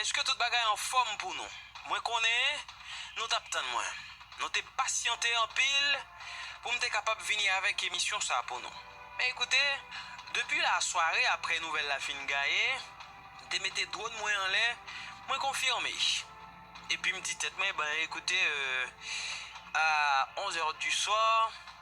Eske tout bagay anfòm pou nou? Mwen konnen nou tap tann mwen. Nou te pasyante anpil pou m te kapab vini avèk emisyon sa pou nou. Men ekoute, depi lasware aprè nouvèl la fin gaye, m te mete dwòn mwen anlè, mwen konfime. Epi m di tèt mwen, bon ekoute, a onzè du swa,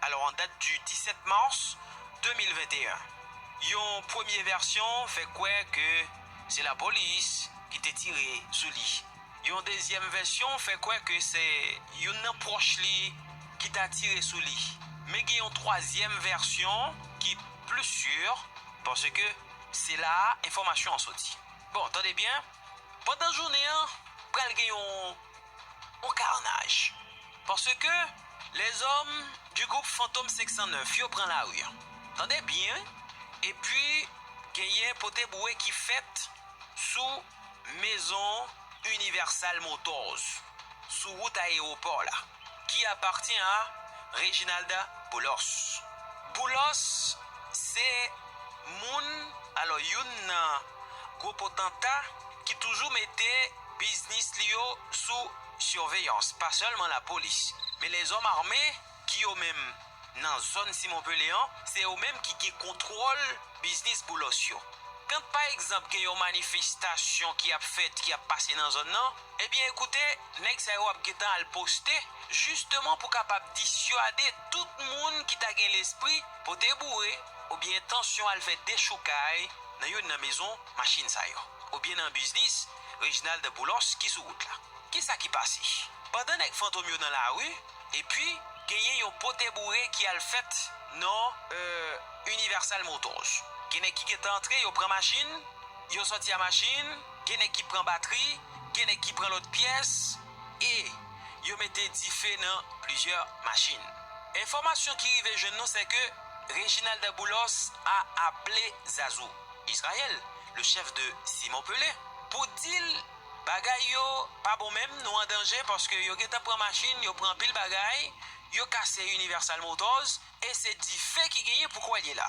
Alò an dat di 17 mars 2021, yon premye vèsyon fè kwè ke se lapolis ki te tire sou li. Yon dezyèm vèsyon fè kwè ke se youn nan pwòch li ki ta tire sou li. Men gen yon twazyèm vèsyon ki plis sur paske se la a enfòmasyon an soti. Bon, tande byen, pandan jounen an pral gen yon. Bon karnaj. Paske lèzòm di gwoup fantom 509 yo pran lari an. Tande byen wi. Epi genyen pote boure ki fèt sou mezon Universal Motors sou wout ayewopò la ki apatyen a Reginald Boulos. Boulos se moun, alò youn nan gwo potanta ki toujou mete. Biznis li yo sou sirveyans pa sèlman lapolis, men lèzòm ame ki yo menm nan zòn Simon Pele an, se yo menm ki gen kontwòl biznis Boulos yo. Kant pa egzanp gen yon manifestasyon ki ap fèt, ki ap pase nan zòn nan, ebyen ekoute nèg sa yo ap gentan al poste jisteman pou kapab disyade tout moun ki ta gen lespri pote boure oubyen entansyon al fè dechoukay nan youn nan mezon Machin sa yo. Oubyen nan biznis Reginald Boulos ki sou wout la. Kisa ki pase? Pandan nèg fantom yo nan lari, epi genyen yon pote boure ki al fèt nan Universal Motors. Gen nèg ki gentan antre, yo pran machin, yo sòti a machin, gen nèg ki pran batri, gen nèg ki pran lòt pyès, e yo mete dife nan plizyè machin. Enfòmasyon ki rive jwenn nou sè ke Reginald Boulos a aple Zazou. Israel le chef de Simon Pele pou dil bagay yo pa bon menm nou an danje paske yo gentan pran machine yo pran anpil bagay yo kase universal motors e se dife ki genyen pou kwèl ye la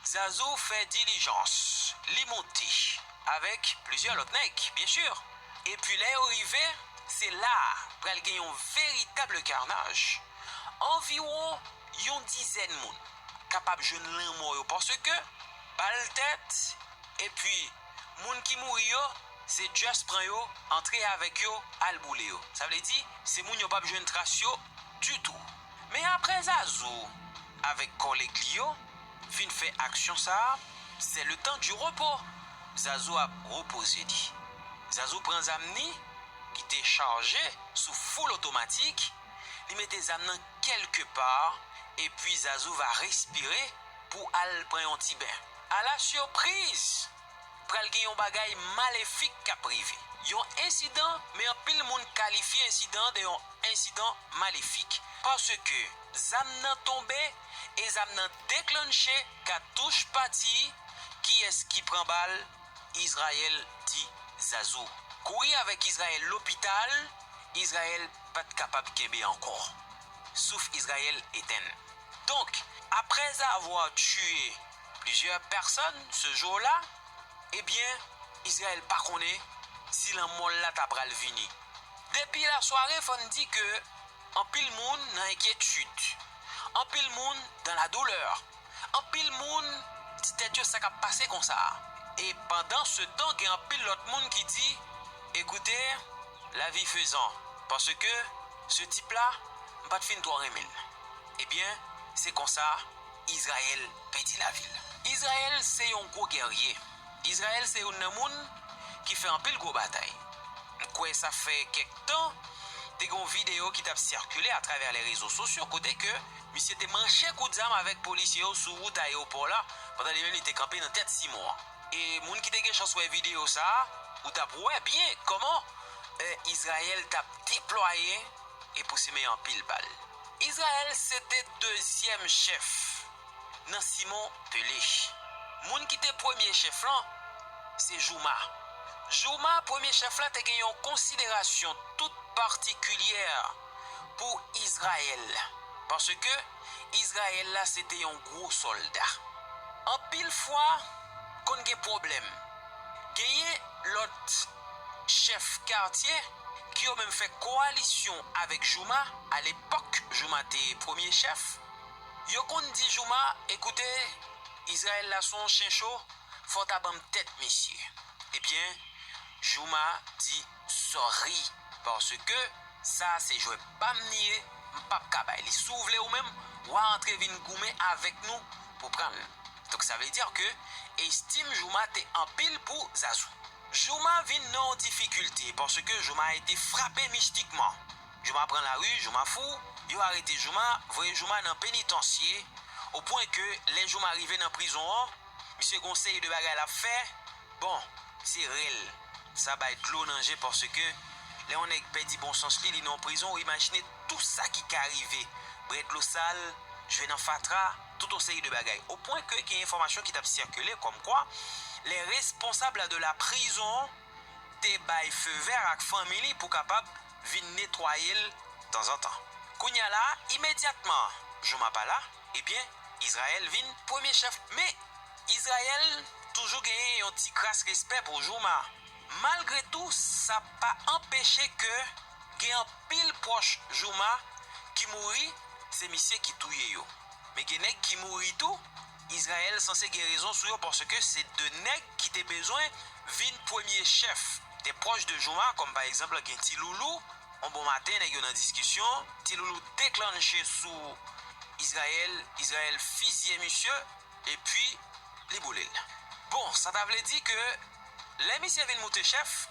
zazou fè dilijans li moute avek plizyè lot nèg byen sur epi lè yo rive se la pral gen yon veritable karnaj anviwon yon dizèn moun kapab jwenn lanmò yo paske bal tèt epi moun ki mouri yo se just pran yo antre avèk yo al boule yo sa vle di se moun yo pap jwenn tras yo ditou men aprè zazou avèk kòlèg li yo fin fè aksyon sa sè le tan di repo zazou ap repoze li zazou pran zam ni ki te chaje sou foul otomatik li mete zam nan kelke pa epi zazou va respire. pou al pran yon ti ben. Ala sipriz! Pral gen yon bagay malefik k ap rive. Yon ensidan, men anpil moun kalifye ensidan an de yon ensidan malefik. Paske zam nan tonbe e zam nan deklannche katouch pati, kiyès ki pran bal? Izrayèl di Zazou. Kouri avèk Izrayèl lopital, Izrayèl pa t kapab kenbe ankò. Souf Izrayèl etenn. Donk, aprèzavwa tiye plizyè pèsòn se jou la, ebyen, Izrayèl pa konnen si lanmò l la ta pral vini. Depi lasware fò n di ke anpil moun nan enkyetid, anpil moun dan la doulè, anpil moun di tèt yo sa k ap pase konsa a? E pandansetan gen anpil lòt moun ki di, Ekoute! Lavi fezan, paske se tip la m pa t fin twò renmen l. Ebyen, se konsa, Izrayèl pèdi lavi l. Izrayèl se yon gwo gèrye. Izrayèl se youn nan moun ki fè anpil gwo batay. M kwè sa fè kèk tan, te gen yon videyo ki t ap sikile atravè lèrezo sosyo kote ke misye te manche kout zam avèk polisye yo sou wout ayewopò la, pandan li menm li te kanpe nan tèt Simon an. E moun ki te gen chans wè videyo sa a, ou t ap wè byen kòman Izrayèl t ap deplwaye e pou simen anpil bal. Izrayèl se te dezyèm chèf nan Simon Pelech. Moun ki te premye chèf lan se Jouma. Jouma, premye chèf la, te gen yon konsiderasyon tout patikilyè pou Izrayèl paske, Izrayèl la se te yon gwo sòlda. Anpil fwa, konn gen pwoblèm. Genyen lòt chèf katye ki yo menm fè kowalisyon avèk Jouma, alepòk Jouma te premye chèf, yo konn di Jouma, Ekoute, Izrayèl la son chen cho, fò w ta ban m tèt misye. Ebyen, Jouma di. Sorry paske sa se jwè pam li ye m pap ka bay li si w vle ou menm wa antre vin goumen avèk nou pou pran l donk sa vle dire ke estime Jooma te anpil pou Zazou. Jooma vin nan yon difikilte paske Jooma ete frape mistikman Jooma pran lari Jooma fou yo arete Jooma voye Jooma nan penitansye o pwen ke lè Jooma rive nan prizon an. Misye gon seri de bagay lap fè, bon se rèl sa bay dlo nan je paske lè yon nèg pèdi bon sans li li nan yon prizon ou imajine tou sa ki ka rive brè dlo sal jwe nan fatra tout yon seri de bagay o pwen ke gen enfòmasyon ki tap sikile kòm kwa lè responsab la de la prizon te bay feu vert ak fanmi li pou kapab vin netwayel tanzantan kounya la imedyatman jou mapa la. Ebyen, Izrayèl vin premye chèf. Men, Izrayèl toujou genyen yon ti kras respè pou Jooma. Malgre tou, sa pa anpeche ke gen anpil pwòch Jooma ki mouri, se misye ki touye yo. Men gen nèg ki mouri tou, Izrayèl sanse gen rezon sou yo paske se 2 nèg ki te bezwen vin premye chèf, de pwòch de Jooma, kòm pa egzanp gen Ti Loulou, On bon maten nèg yo nan diskisyon, Ti Loulou deklannche sou Izrayèl, Izrayèl fizye misye epi li boule l. Bon, sa ta vle di ke lè misye vin moute chèf,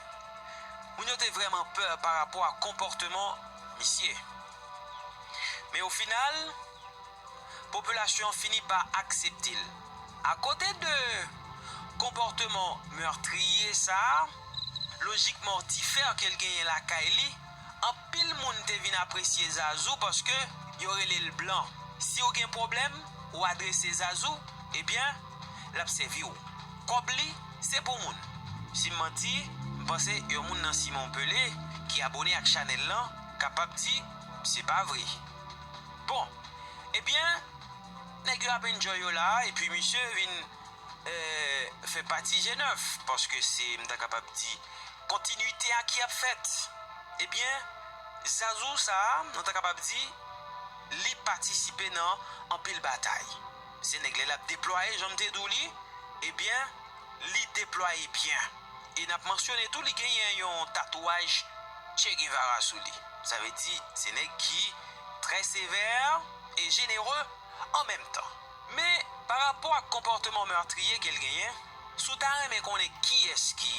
moun yo te vrèman pè parapò ak konpòteman misye. Men ofinal. popilasyon an fini pa aksepte l. Akote de konpòteman meurtrier sa, lojik mortifère ke l genyen lakay li, anpil moun te vin apresye Zazou paske yo rele l blan. Si w gen pwoblèm, ou adrese Zazou, ebyen, l ap sèvi w. Kòb li, se pou moun. Si m manti, m panse yon moun nan Simon Pelé ki abone ak chanèl lan kapab di se pa vre. Bon Ebyen nèg yo ap enjoy yo la a epi misye vin fè pati je nèf paske se m ta kapab di kontinite a ki ap fèt Ebyen Zazou sa a nou ta kapab di li patisipe nan anpil batay. Se nèg lè lap deplwaye janm te diw li ebyen li deplwaye byen e nap mansyone tou li genyen yon tatouaj Che Guevara sou li sa vle di se nèg ki trè sevè e jenere an menm tan men pa rapò ak konpòteman meurtrier kel genyen si w ta renmen konnen kiyès ki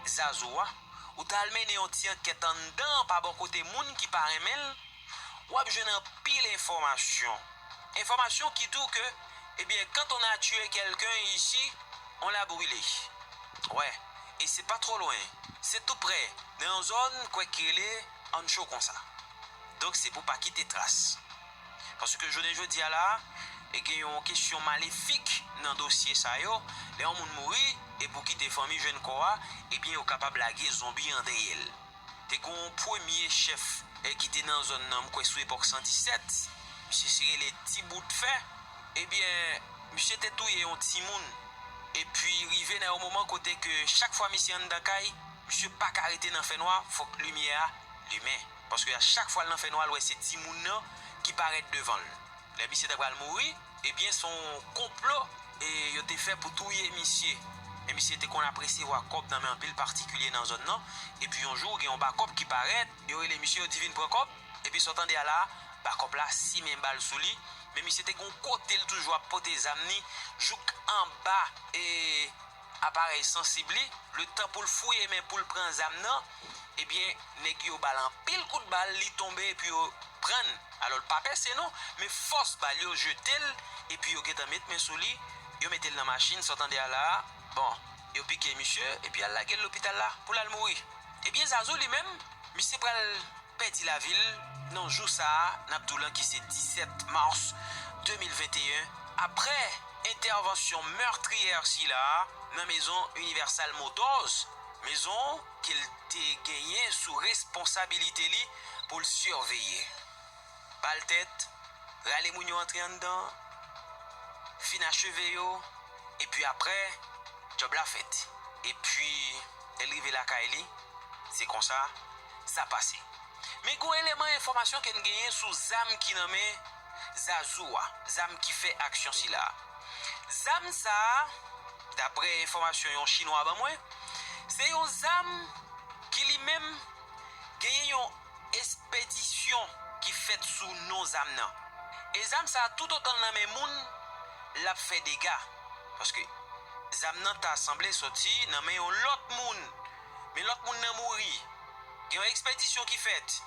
Zazou a ou ta al mennen yon ti ankèt anndan pa bò kote moun ki pa renmenl. wap jwenn anpil enfòmasyon, enfòmasyon ki di w ke ebyen quand on a tue quelqu'un ici on l'a brule wè e se pa twò lwen se tou prè nan yon zòn kwè ki rele Ancho konsa donk se pou pa kite tras paske jounen jodi a la e gen yon kesyon malefik nan dosye sa yo lè yon moun mouri e pou kite fanmi jwenn kò a ebyen yo kapab lage zonbi an dèyè l. Te gen yon premye chèf ki te nan zòn nan, m kwè sou epòk 117, misye se rele Ti Bout Fè, ebyen misye te touye yon timoun, epi rive nan yon moman kote ke chak fwa misye anndan kay, misye pa ka rete nan fè nwa, fòk limyè a limen, paske a chak fwa l nan fè nwa l wè se timoun nan ki parèt devan l. Lè misye ta pral mouri ebyen son konplo yo te fè pou touye misye. Men misye te konn ap resevwa kòb nan men anpil patikilye nan zòn nan epi yon jou gen yon bakòp ki parèt yo rele misye yo di vin pran kòb epi sa w tande a la a bakòp la simen bal sou li men misye te gen yon kote l toujou ap pote zam ni jouk anba e aparèy sansib li, letan poul fouye men poul pran zam nan, ebyen nèg yo bal anpil kout bal li tonbe epi yo prann, alò l pa pèse non, men fòs bal yo jetel epi yo gentan met men sou li, yo metel nan machin sa w tande a la a, bon yo pike misye epi al lagel lopital la poul al mouri, ebyen zazou li menm. Misye pral pèdi lavi l nan jou sa n ap di w lan ki se 17 mas 2021 aprè entèvansyon meurtrier sila a nan mezon Universal Motors, mezon ke l te genyen sou responsabilite li pou l siveye. Bal tèt, rale moun yo antre anndan, fin acheve yo, epi aprè, djòb la fèt. Epi, lè l rive lakay li, se konsa, sa pase. Men gen yon eleman enfòmasyon ke n genyen sou zam ki nan men Zazou a, zam ki fè aksyon sila a. Zam sa a, daprè enfòmasyon yon Chinwa ban mwen, se yon zam ki li menm genyen yon. Espedisyon ki fèt sou non zam nan. E zam sa toutotan l nan men moun, l ap fè dega. Paske, zam nan ta sanble soti nan men yon lòt moun. Men lòt moun nan mouri. Gen yon ekspedisyon ki fèt.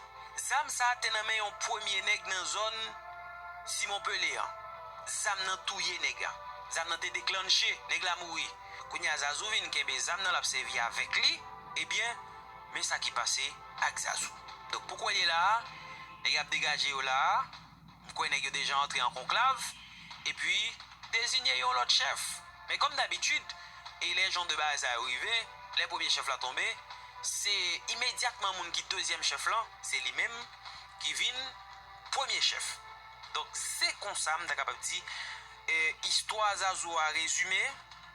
Zam sa te nan men yon premye nèg nan zòn Simon Pele an. Zam nan touye nèg la. Zam nan te deklannche, nèg la mouri. Kounye a Zazou vin kenbe zam nan l ap sèvi avèk li. Ebyen, men sa ki pase. ak Sassou. Donk pou koulye la a, nèg y ap degaje yo la a, m kwè nèg yo deja antre an konklav, epi dezinye yon lòt chèf. Men kòm dabitid, e lè jan de bagay sa yo rive, lè premye chèf la tonbe, se imedyatman moun ki dezyèm chèf lan, se li menm ki vin premye chèf. Donk se konsa m ta kapab di istwa Zazou a rezime.